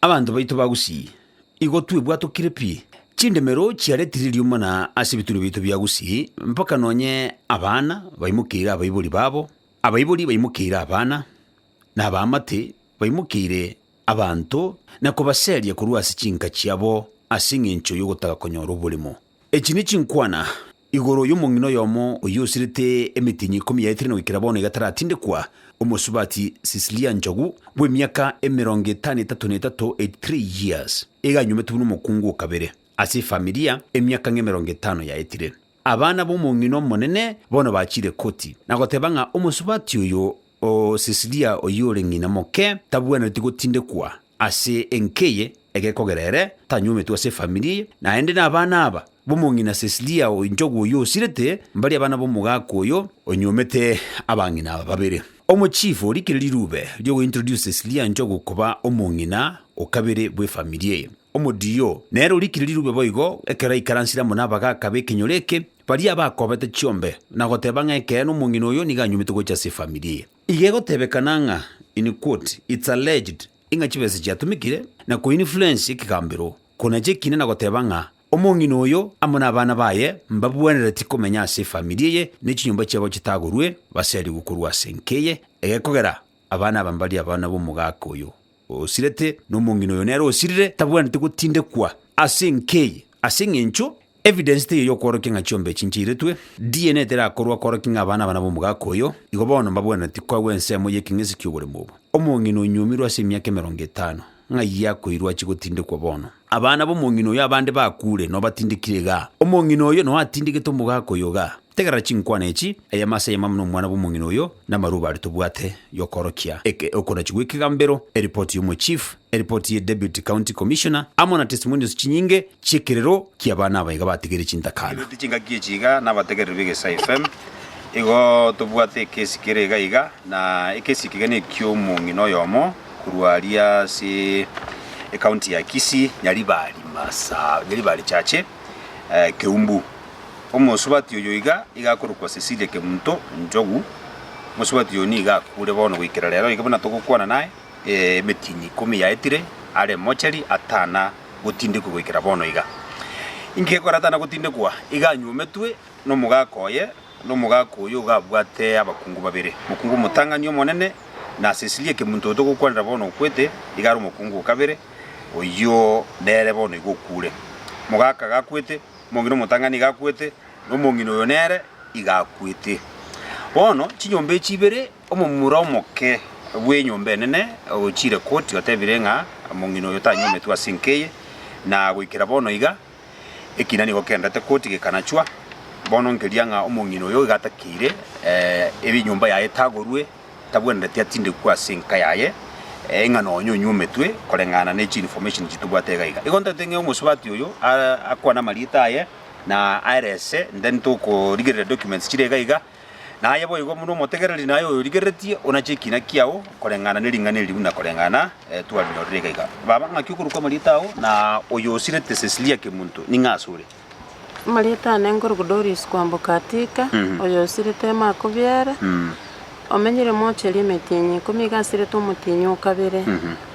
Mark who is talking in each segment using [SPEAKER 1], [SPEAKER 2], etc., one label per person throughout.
[SPEAKER 1] Abanto baito ba Gusii, igo twebwatokire pi, chindemero chiaretire riuma na ase ebitunwa biaito bia Gusii, mpaka nonye abana baimokeire abaibori babo, abaibori baimokeire abana, na abaamate baimokeire abanto na kobaseria korwa ase chinka chiabo ase engencho y'ogotaga konyora oborimo. Echi ne chinkwana Igoro y'omong'ina oyomo oyio osirete emetienyi ikomi yaetire na goikera bono igataratindekwa, omosubati Cecilia Njogu, bw'emiaka emerongo etano etato na etato, 83 years, eganywometwe buna omokungu o kabere ase efamilia emiaka ng'emerongo etano yaetire. Abana b'omong'ina omonene bono bachire koti na goteba ng'a omosubati oyo O Cecilia oyio ore ng'ina moke tabwenereti gotindekwa ase enka eye egekogera ere tanywometwe ase efamiri eye, naende nabana aba b'omong'ina Cecilia o inchogu oyio osirete mbari abana b'omogaka oyo onywomete abang'ina aba babere. Omochifu orikire rirube riogointroduce Cecilia inchogu koba omong'ina o kabere bw'efamiri eye. Omodiyo, nere orikire rirube boigo, ekero aikaransire amo n'abagaaka b'ekenyoro eke, baria abakoobete chiombe, na goteeba ng'a ekeene omong'ina oyo nigo anyumete gocha ase efamiri eye. Iga egoteebekana ng'a, in quote, it's alleged, ing'a chibesa chiatumekire, na ko influence ekegambero, ko nache ekina na goteeba ng'a omong'ina oyo amo n'abana baye mbabuanereti komenya ase efamiri eye ne chinyomba chiabo chitagorwe baseriwe korwa ase enka eye egekogera abana aba mbaria abana b'omogaaka oyo. osirete, na omong'ina oyo nere osirire tabwenereti gotindekwa ase enka eye, ase eng'encho evidence teiyo y'okworokia ng'a chiombe echi nchairetwe, DNA terakorwa kworokia ng'a aba nabana b'omogaka oyo, igo bono mbabwenereti koegwa ensemo y'ekeng'esi ki'oboremu obo. Omong'ina onyuomirwe ase emiaka emerongo etano, ng'ai akoirwa achie gotindekwa bono? Abana b'omong'ina oyo abande bakuure, nobatindekire igaa? Omong'ina oyo noatindegete omogaka oyo igaa? Tegerera chinkwana echi, Aye amaaso ayamamo nomwana bw'omong'ina oyo, namarubo aria tobwate y'okoorokia eke okonachi gw'ekegambero, eripoti y'omochief, eripoti ye Deputy County Commissioner, amo na testimonials chinyinge chi'ekerero ki'abana abaiga bategeire chintakana. Toigwete chingaki echi iga nabategereri b'Egesaai FM. Igo tobwate ekesi kere iga iga, na ekesi eke iga neki'omong'ina oyomo korwa aria ase ecounty ya Kisii, Nyaribari Masaa, Nyaribari Chache, Keumbu. Omosubati oyo iga iga akorokwa Cecilia Kemunto Njogu. Omosubati oyo nigo akure bono goikera rero iga buna togokwana naye, emetinyi ikomi yaetire are mochari atana gotindekwa goikera bono iga. Inki gekora atana gotindekwa? Iga anywometwe nomogaka oye, na omogaka oyo iga abwate abakungu babere, omokungu omotang'ani omonene, na Cecilia Kemunto oyo togokwanera bono okwete iga are omokungu o kabere, oyio nere bono iga okure. Omogaka gakwete. omong'ina omotang'ani iga akwete, na omong'ina oyo nere iga akwete. Bono chinyomba echi ibere, omomura omoke bw'enyomba enene ogochiire koti otebire ng'a omong'ina oyo tanyometwe ase enka eye, na goikera bono iga ekina nigo kenderete koti gekanachwa. Bono nkeria ng'a omong'ina oyo iga atakeire enyomba yaye etagorwe. tabwenereti atindekwe ase enka yaye, ee, ng'a nonya onywe ometwe, koreng'ana ne chi information chitobwate iga iga. Igo ntaete ng'a omosubati oyo akwane amarieta aye na aerese then tokorigereria documents chire iga iga, na aye boigo buna omotegereri naye oyorigereretie onache ekina kiao koreng'ana ne ring'ana eri buna koreng'ana twarinyorire iga iga. Baba ng'aki okorokwa amarieta ao na oyo osirete Cecilia Kemunto ning'a asore? Marieta
[SPEAKER 2] aane nkoruku Doris kwamboka Attica, oyo osirete ime akobiere, omenyire moocheri emetienyi ikomi iga asirete omotienyi o kabere,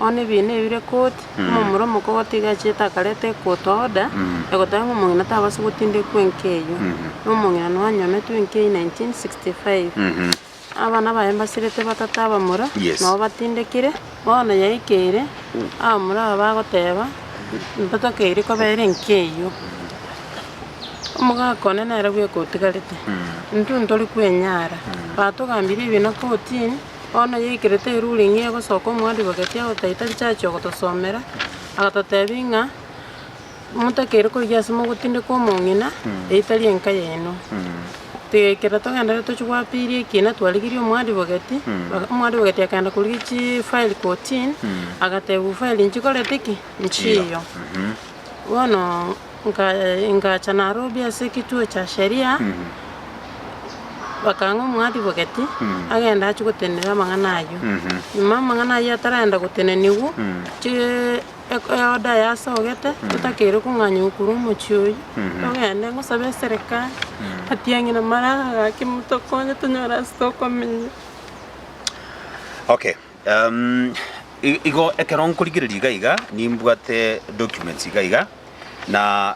[SPEAKER 2] one ebiina ebire koti, omomura omokogoto iga achiete akareta equota order egoteba ng'a omong'ina tabasa gotindekwa enka eyio, na omong'ina noanyometwe enka eyio 1965. Abana baye mbasirete batata abamura, nao batindekire. Bono yaikeire, abamura aba bagoteba, Ntotokeiri koba ere nkeyio. Omogaka one nere bweka otigarete, intwe ntori kwenyara. Batogambirie ebi na kortini, bono yaikerete eruling egosoka omwadivoketi agotaita richachio ogotosomera, agatotebia ng'a. Motakeire korigia ase mogotindeka omong'ina, eitari enka yaino. Ekero togendererete tochia goapeiri ekina, twarigirie omwadivogeti, omwadivogeti akagenda korigia chifayiri kotini, agatebiwa fayiri nchikorete ki? Nchiiyo. Bono nkaye- ingacha Nairobi ase ekechoo kia sheria, bakang'a omwadivogeti, agende achie gotenena amang'ana ayio. Nyuma amang'ana ayio ataragenda goteneniwa, chi- eko ya order yasogete, totakeire kong'anywa korwa omochie oyio, togende ngosabe eserekari, atiang'e na mara gaki motokonye tonyore ase okomenya. Okay, um,
[SPEAKER 1] i- igo ekero nkorigereria iga iga nimbwate documents iga iga na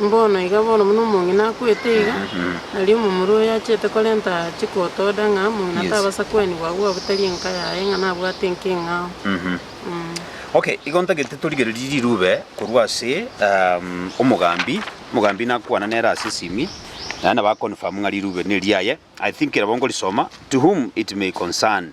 [SPEAKER 2] Mbono iga bono buna omong'ina akwete iga, aria omomura oyo achete korenta chikooto ode ng'a omong'ina tabasa kwenigwa agwo abwo tari enka yaye ng'a nabwate enka eng'ao.
[SPEAKER 1] Ok, igo ntagete torigererie rirube korwa ase omogambi, omogambi nakwana nere ase esimi naende naba confirm ng'a rirube neriaye. I think nabo nkorisoma, to whom it may concern.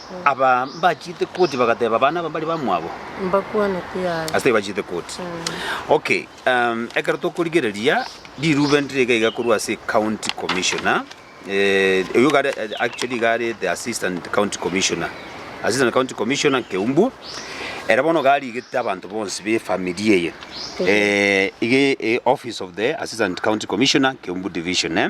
[SPEAKER 1] Aba mbachiete koti bagateba abana aba mbari bamwabo. Mbakwanete
[SPEAKER 2] yaye. Ase bachite koti.
[SPEAKER 1] Okay, um, ekero tokorigereria rirube ndire iga iga korwa ase county commissioner eh, oyo iga are- eh, actually iga are the assistant county commissioner assistant county commissioner keumbu ere bono garigete abanto bonsi be family eye eh, iga eh, office of the assistant county commissioner keumbu division eh.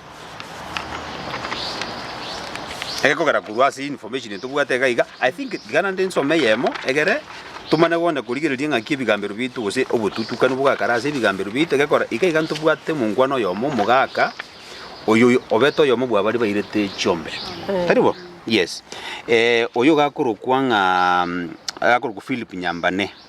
[SPEAKER 1] Egekogera korwa ase information etobwate iga iga, I think tiga naende nsome eyemo egere tomanye gokenda korigereria ng'aki ebigambero biaito gose obotutukanu bogakare ase ebigambero biaito egekora iga iga ntobwate omongwana oyomo omogaka oyo oyo obete oyomo bwa baria bairete chiombe. Tari bo? Yes. Oyo ogakorokwa ng'a agakorokwa Philip Nyambane.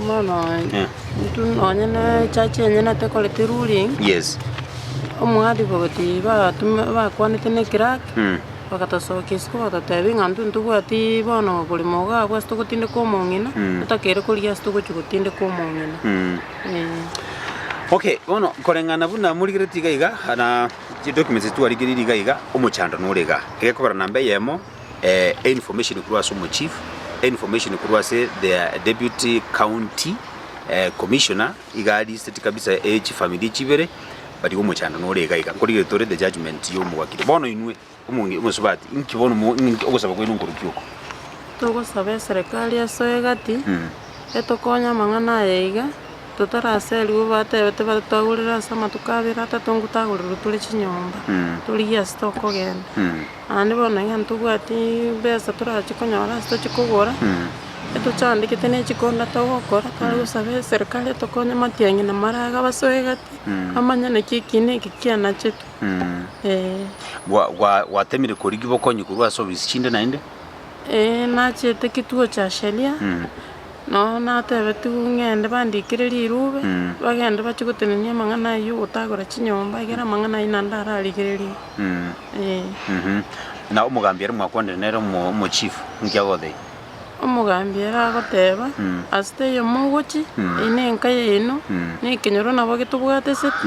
[SPEAKER 1] Omwana
[SPEAKER 2] oye Eh. intwe nonye na echachi enyene tekoreti ruling Yes.
[SPEAKER 1] omwadiko
[SPEAKER 2] gati batuma bakwanete ne clerk Mm. bagatosokia isiko bagatotebia ng'a intwe ntobwati bono oboremo iga abwo ase togotindeka omong'ina Mm. totakere korigia ase togochia gotindeka omong'ina Mm. Eh. Okay, bono koreng'ana buna morigereti iga iga, na chidocuments echi twarigereiri iga iga, omochando nore iga. Egekogera namba eyemo. einformation korwa ase omochief, einformation korwa ase their deputy county commissioner, iga aliseti kabisa echifamiri chibere, but igo omochando nore iga iga, nkorigire tore the judgement ya omogakiri. Bono inwe omonge omosubati, inki bono mo inki ogosaba kwaino nkorukia oko? Togosaba eserekari asoe egati etokonye amang'ana aya iga. totaraserigwe batebete bare twagorire ase amatuko abere atato ng'u tagorirwe tore chinyomba, torigia ase tokogenda. Naende bono onye ntobwati mbesa torachi konyora ase tochi kogora, etochandegete ne chikonda togokora, tware gosaba eserikari etokonye matiang'i na maraga abasoe egati, bamanye naki eki na eki kianachetwe, eh. Gwa- gwa-
[SPEAKER 1] gwatemire korigia bokonyi korwa ase ofisi chinde naende? Eeh,
[SPEAKER 2] nachiete kituo cha sheria. Nao natebetigwe ng'ende bandikere rirube, bagende bachie gotenenia amang'ana ayio, ogotagora chinyomba, egere amang'ana ayio naende ararigererigwe, eh.
[SPEAKER 1] Na omogambi ere mwakwanire nere omo- omochief, inki agotebi? Omogambi
[SPEAKER 2] ere agoteba, Ase taiyo mogochia, eye nenka yaino, nekenyoro nabo getobwate eseti.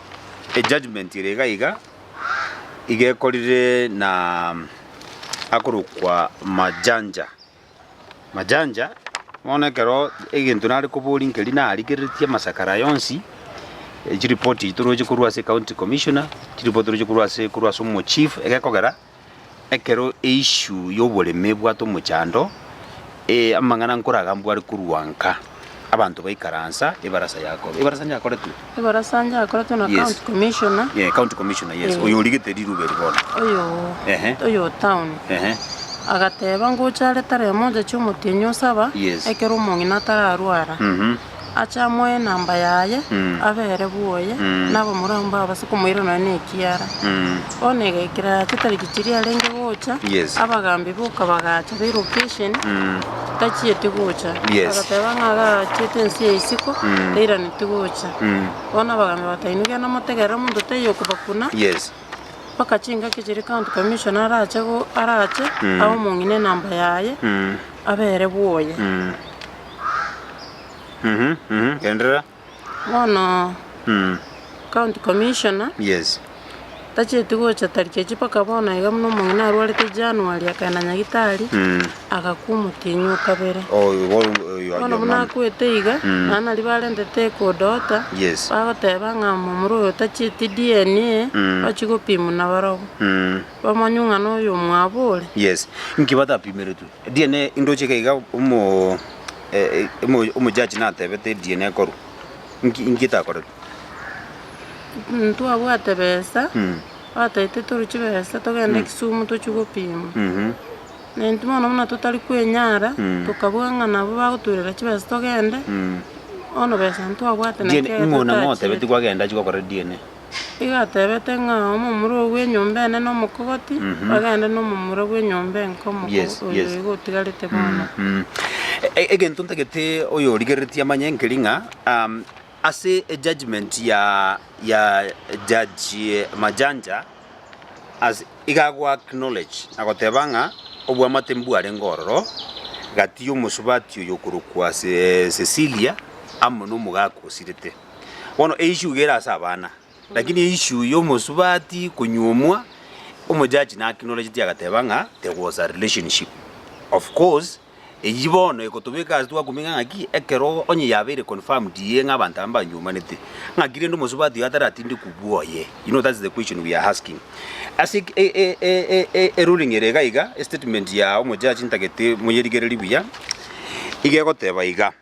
[SPEAKER 1] ejudgement ere iga iga, iga ekorire na akorokwa Majanja. Majanja, bono ekero egento nare koboria nkeri narigereretie amasakara aya onsi, chiripoti echi toroche korwa ase county commissioner, chiripoti toroche korwa ase korwa ase omochief egekogera, Ekero eissue y'oboremi ebwate omochando, ee amang'ana nkoraga mbware korwa nka, abanto baikaransa ebarasa yakorwa, ebarasa yakoretwe? Ebarasa yakoretwe na
[SPEAKER 2] County Commissioner. Yes, County Commissioner, yes,
[SPEAKER 1] oyo origete riruba eri bono. Oyo oyo
[SPEAKER 2] o town. Agateba ngocha are tarehe moja chia omotienyi osaba, ekero omong'ina atararwara. ache amoe enamba yaye, abe ere bwoye, na abamura abwo mbabase komoira nonya nekiara. Bono egekira ya chitariki chiria arenge gocha, Yes. abagambi
[SPEAKER 1] boka
[SPEAKER 2] bagacha, be location, tachieti gocha. Yes. Agateba ng'a
[SPEAKER 1] agachiete
[SPEAKER 2] ense ya isiko, tairaneti gocha. Bono abagambi bagateba inwe genda motegerere omonto taiyo okobakuna, Yes.
[SPEAKER 1] mpaka chingaki
[SPEAKER 2] chiria county commissioner arache go- arache, abe omong'ina enamba yaye, abe ere bwoye.
[SPEAKER 1] Enderera. Bono
[SPEAKER 2] county commissioner Yes.
[SPEAKER 1] tacheti
[SPEAKER 2] gocha tariki echi mpaka bono iga buna omong'ina arwarete January akagenda nyagitari agakwa omotienyi o kabere. Oh, you go, you, you, Bono buna akwete iga nabo naria barentete eco daughter Yes. bagoteba
[SPEAKER 1] ng'a
[SPEAKER 2] momura oyo tacheti DNA ochia gopimwa nabarobwo. Bamanywe ng'a noyo omwabo ore. Yes. Inki
[SPEAKER 1] batapimeretwe? Ediene indoche iga iga omo omo omojaji natebete ediene ekorwa. Inki inki takoreti?
[SPEAKER 2] Ntwabwate besa, Mm. bataete toru chibesa togende Kisumu tochie gopima. Mhm. Nainto bono buna totari kwenyara, Mm. tokabua ng'a nabo bagoturera chibesa togende, Mm. bono besa ntwabwate naki Diene ekero ing'o nang'o otebeti
[SPEAKER 1] totachiete. kwagenda chigokora ediene? Igatebete
[SPEAKER 2] ng'a omomura oo bw'enyomba ene nomokogoti, bagende nomomura bw'enyomba enke omoko Yes, oyo yes. iga otigarete bono. E-
[SPEAKER 1] egento ntagete oyorigereretie amanye nkeri ng'a um, ase ejudgment ya ya judge majanja as iga ago acknowledge agoteba ng'a obwamate mbwarenge ororo gati omosubati oyo okorokwa Ce- cecilia amo na omogaka osirete Bono eishuga ere ase abana, lakini eishu y'omosubati konyuomwa, omojaji naacknowledgeti agateba ng'a there was a relationship. Of course, eyio bono egotobeka ase twakumeka ng'a ki, ekero onye yabeire confirmed iye ng'a abanto aba mbanyuomanete, ng'aki rende omosubati oyo ataratinde kubua oye? You know that's the question we are asking. Ase eki e- e- e- e- e- eruling ere iga iga, estatement ya omojaji ntagete moyerigererie buya, iga egoteba iga.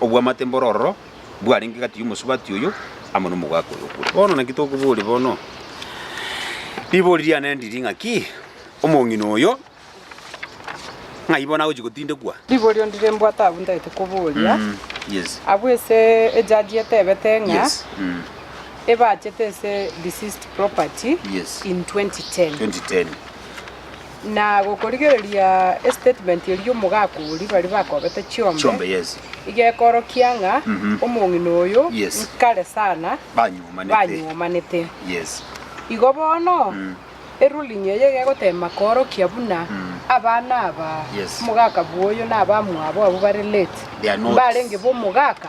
[SPEAKER 1] Obwamate mbore ororo bwarenge gati y'omosubati oyo amo nomogaaka oyo okure. Bono naki tokoboria bono? Ribori riane ndiri ng'aki? Omong'ina oyo ng'ai bono agochia gotindekwa? Riborio ndire mbwate
[SPEAKER 3] abwo ntagete koboria? Abwo
[SPEAKER 1] ase
[SPEAKER 3] ejaji etebete ng'a
[SPEAKER 1] ebachete
[SPEAKER 3] ase deceased property in
[SPEAKER 1] 2010. Na
[SPEAKER 3] gokorigereria estatement eria omogaka oria baria bakobete chiombe,
[SPEAKER 1] igekorokia ng'a
[SPEAKER 3] omong'ina oyo nkare sana banyuomanete.
[SPEAKER 1] Igo bono
[SPEAKER 3] eruling eye igegoteema koorokia buna abana aba omogaka bwoyo na abamwabo abwo bare late mbarenge b'omogaka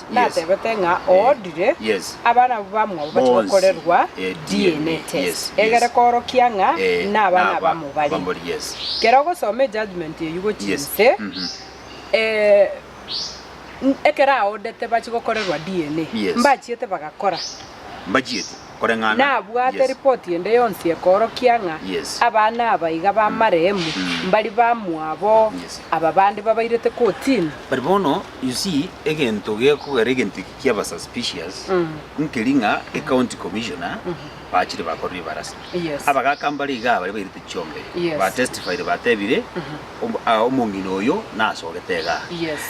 [SPEAKER 3] Natebete ng'a oodire abana abwo bamwabo bache gokorerwa DNA test egere koorokia ng'a nabana abamo bare. Kera ogosoma ejudgement eyio gochia inse, ekero aodete bache gokorerwa DNA,
[SPEAKER 1] mbachiete
[SPEAKER 3] bagakora?
[SPEAKER 1] nabwate
[SPEAKER 3] ripoti ende yonsi ekoorokia ng'a abana aba iga b'amarehemu, mbari bamwabo aba bande babairete kotini. But bono you
[SPEAKER 1] see egento gekogera egento eke kiaba suspicious nkeri ng'a ecounty commissioner bachire bakorire ebarasa abagaka mbare iga baria bairete chiong'ee ba testified batebire omong'ina oyo nasogete igaa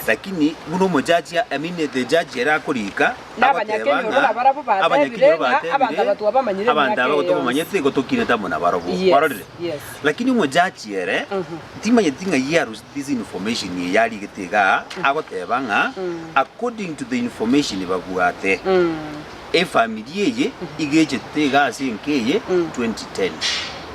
[SPEAKER 1] lakini buna omojaji I mean the judge ere akoriika na agoteeba abanyakenyoro, ng'a na
[SPEAKER 3] barabwo abanyakenyoro bateebire, ng'a abanto bateebire, abatuba bamanyire abanto emiaka aba eye yonsi. tobamanyeti
[SPEAKER 1] gotokirete amo nabarabwo. Yes, Kwarorire? yes. Lakini omochachi ere timanyeti ng'a he has received this information eye arigete igaa, agoteeba ng'a according to the information babwate, efamiri eye igechete iga ase enka eye 2010.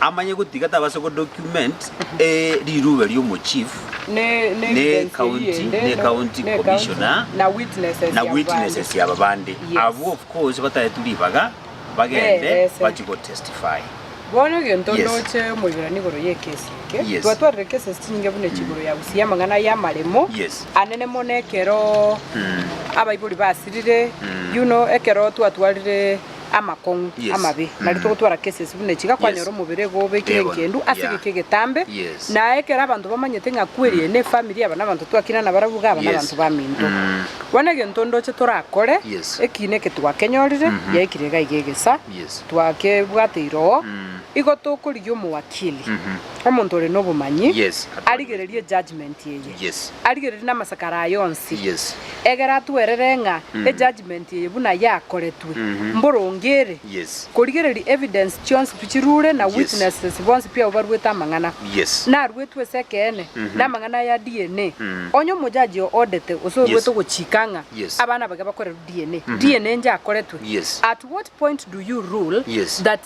[SPEAKER 1] Amanye gotiga tabase go document e riruube riomochief ne county ne county commissioner
[SPEAKER 3] na witnesses aba bande
[SPEAKER 1] abwo of course bataetu ribaga bagende bachi go testify. Bono egento
[SPEAKER 3] Yes. ndoche moiberani igoro y'ekesi eke, Yes. twatwarire cases chinyinge buna echi igoro ya gusiyia amang'ana aya amaremo Yes. anene mono ekero abaibori basirire you know ekero twatwarire amakong'u Yes. amabe, nari Mm. togotwara cases buna echi, iga kwanyora Yes. omobere iga obekire Egono. engendu ase Yeah. egeka egetambe, Yes. na ekero abanto bamanyete ng'a kweri eye nefamiri aba nabanto twakina nabarabwo iga aba Yes. nabanto baminto. Mm. Bono egento ndoche torakore, Yes. ekiina eke twakenyorire, Mhm. yaikire iga iga egesa, Yes. twakebwateire oo, Mm. igo tokorigia omowakili, Mhm. omonto ore nobomanyi, Yes. arigererie ejudgement eye. Yes. Arigererie namasakara aye onsi. Yes. Egera atwerere ng'a ejudgement eye buna yakoretwe Mhm. mboronge ere Yes. korigereria evidence chionsi pi chirure na Yes. witnesses bonsi pi abwo baruete amang'ana Yes. naruetwe ase ekeene Mhm. namang'ana aya ya DNA. Mm. Onye omojaji oo odete gose Yes. oruete gochika ng'a Yes. abana bage bakorerwe DNA, Mhm. DNA njakoretwe, Yes. at what point do you rule Yes. that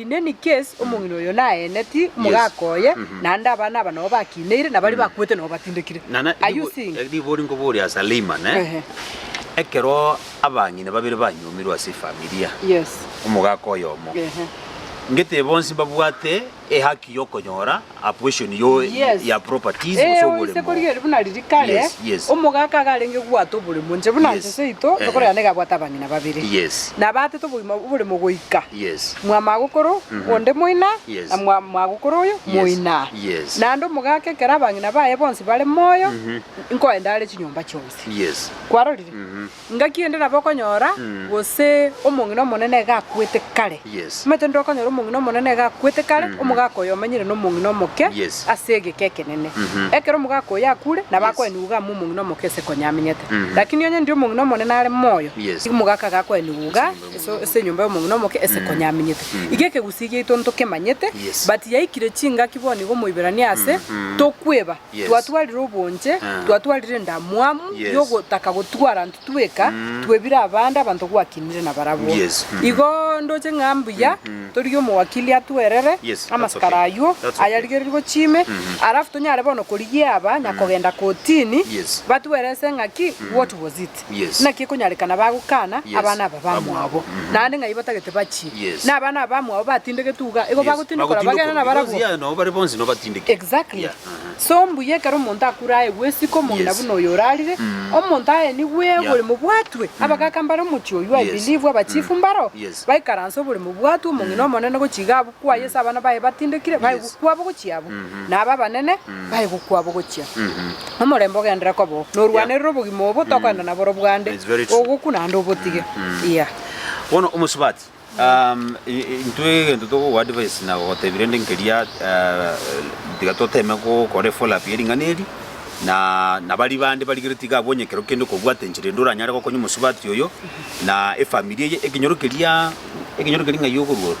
[SPEAKER 3] In any case, omong'ina oyo naeneti omogaka oye, naende abana aba nabo bakiineire, na baria bakwete nabo batindekire. Are Nana you ribo- seeing? eh, ribo rinkoboria ase
[SPEAKER 1] Lehman, eh? Ehe. Ekero abang'ina babere banywomirwe ase efamilia, Yes. omogaka oyomo, Ehe. ngete bonsi mbabwate ehaki y'okonyora a portion yo Yes. ya properties gose Ee, oise oboremo. korigereria
[SPEAKER 3] buna riria kare Yes, yes. omogaka iga arenge kobwata oboremo inche buna Yes. inche seito Ehe. tokorera niga abwate abang'ina babere Yes. na abatete obogima oboremo goika Yes. mwamagokoro onde moina Yes. na mwa- mwagokoro oyo Yes. moina Yes. naende omogaka ekero abang'ina baye bonsi bare moyo nkoenda are chinyomba chionsi Yes. kwarorire Ngaki ende nabo okonyora, gose omong'ina omonene iga akwete kare. Omanyete inde okonyora omong'ina omonene iga akwete kare, omogaka oyo omanyire nomong'ina omoke ase egeka
[SPEAKER 1] ekenene.
[SPEAKER 3] Ekero omogaka oyo akure, nabo akoenigwa iga amo omong'ina omoke ase konya amenyete. Lakini onye ndi omong'ina omonene are moyo, nigo omogaka iga
[SPEAKER 1] akoenigwa
[SPEAKER 3] iga ase enyomba y'omong'ina omoke ase konya amenyete. Iga ekegusii giaito ntokemanyete, but yaikire
[SPEAKER 1] chingaki
[SPEAKER 3] bono iga Omoiberania ase, tokweba. Twatwarire
[SPEAKER 1] obonche,
[SPEAKER 3] twatwarire endamwamu y'ogotaka
[SPEAKER 1] gotwara
[SPEAKER 3] intwe tweka, twebire abande abanto gwakinire nabarabwo. Igo
[SPEAKER 1] ndoche ng'a
[SPEAKER 3] mbuya torigie omowakili atwerere amasikara
[SPEAKER 1] ayio
[SPEAKER 3] ayarigererie
[SPEAKER 1] gochia ime,
[SPEAKER 3] alafu tonyare bono korigia aba nyakogenda kotini, batwerese
[SPEAKER 1] ng'aki
[SPEAKER 3] what was it. Yes. Naki ekonyarekana bagokana Yes. abana aba bamwabo, Mhm. naende ng'ai batagete bachie, Yes. na abana aba bamwabo batindegetwe iga, igo Yes, bagotindokora bagotindokora, bagenda because, nabarabwo. yeah, nabo bare bonsi nobatindeke.
[SPEAKER 1] Exactly. Yeah, aha.
[SPEAKER 3] So mbuya
[SPEAKER 1] ekero
[SPEAKER 3] omonto akure aye gwesika omong'ina Yes. buna oyo orarire,
[SPEAKER 1] Mm.
[SPEAKER 3] omonto aye nigo Yeah. egore mobwatwe. Abagaka mbare omochie oyio, I Yes. believe abachifu
[SPEAKER 1] mbaro,
[SPEAKER 3] Yes. baikaranse obore
[SPEAKER 1] mobwatwe
[SPEAKER 3] omong'ina omonene gochia iga abwo. Kwa Yeso abana baye batindekire bae gokwa bogochia abwo, na aba abanene bae gokwa bogochia. Omorembe ogenderere koba oo, norwanerere obogima obo tokoenda nabo orobwande, ogokwa naende
[SPEAKER 1] obotige.
[SPEAKER 3] Iya. Bono
[SPEAKER 1] omosubati, um, i- i- intwe egento togogoa advice na gogotebia rende nkeria uh, tiga toteme gokora efollow up ye ring'ana eri na na bari bande barigire tiga abwo onye kero kende okobwate enchera ende oranyare gokonya omosubati oyo na efamiri eye ekenyoro keria ekenyoro keria ng'ai okorua ororo.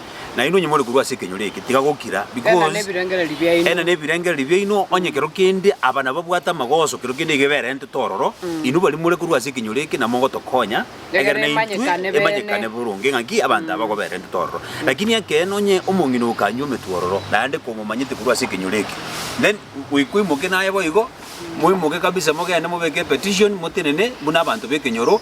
[SPEAKER 1] Nainwe onye more korwa ase ekenyoro eke, tiga gokira, Ena because nebirengererio biaino. ena nebirengererio biaino, onye kero kende aba nababwate amagoso, kero kende iga eberentete ororo, inwe baria more korwa ase ekenyoro eke namo mogotokonya, Egere egere na intwe emanyekane emanyekane bene. boronge ng'aki abanto aba baberentete ororo. Lakini ekeene onye omong'ina okanywa ometwe ororo, naende komomanyete korwa ase ekenyoro eke, then goika oimoke naye boigo, moimoke kabisa mogende mobeke epetition, motenene buna abanto b'ekenyoro,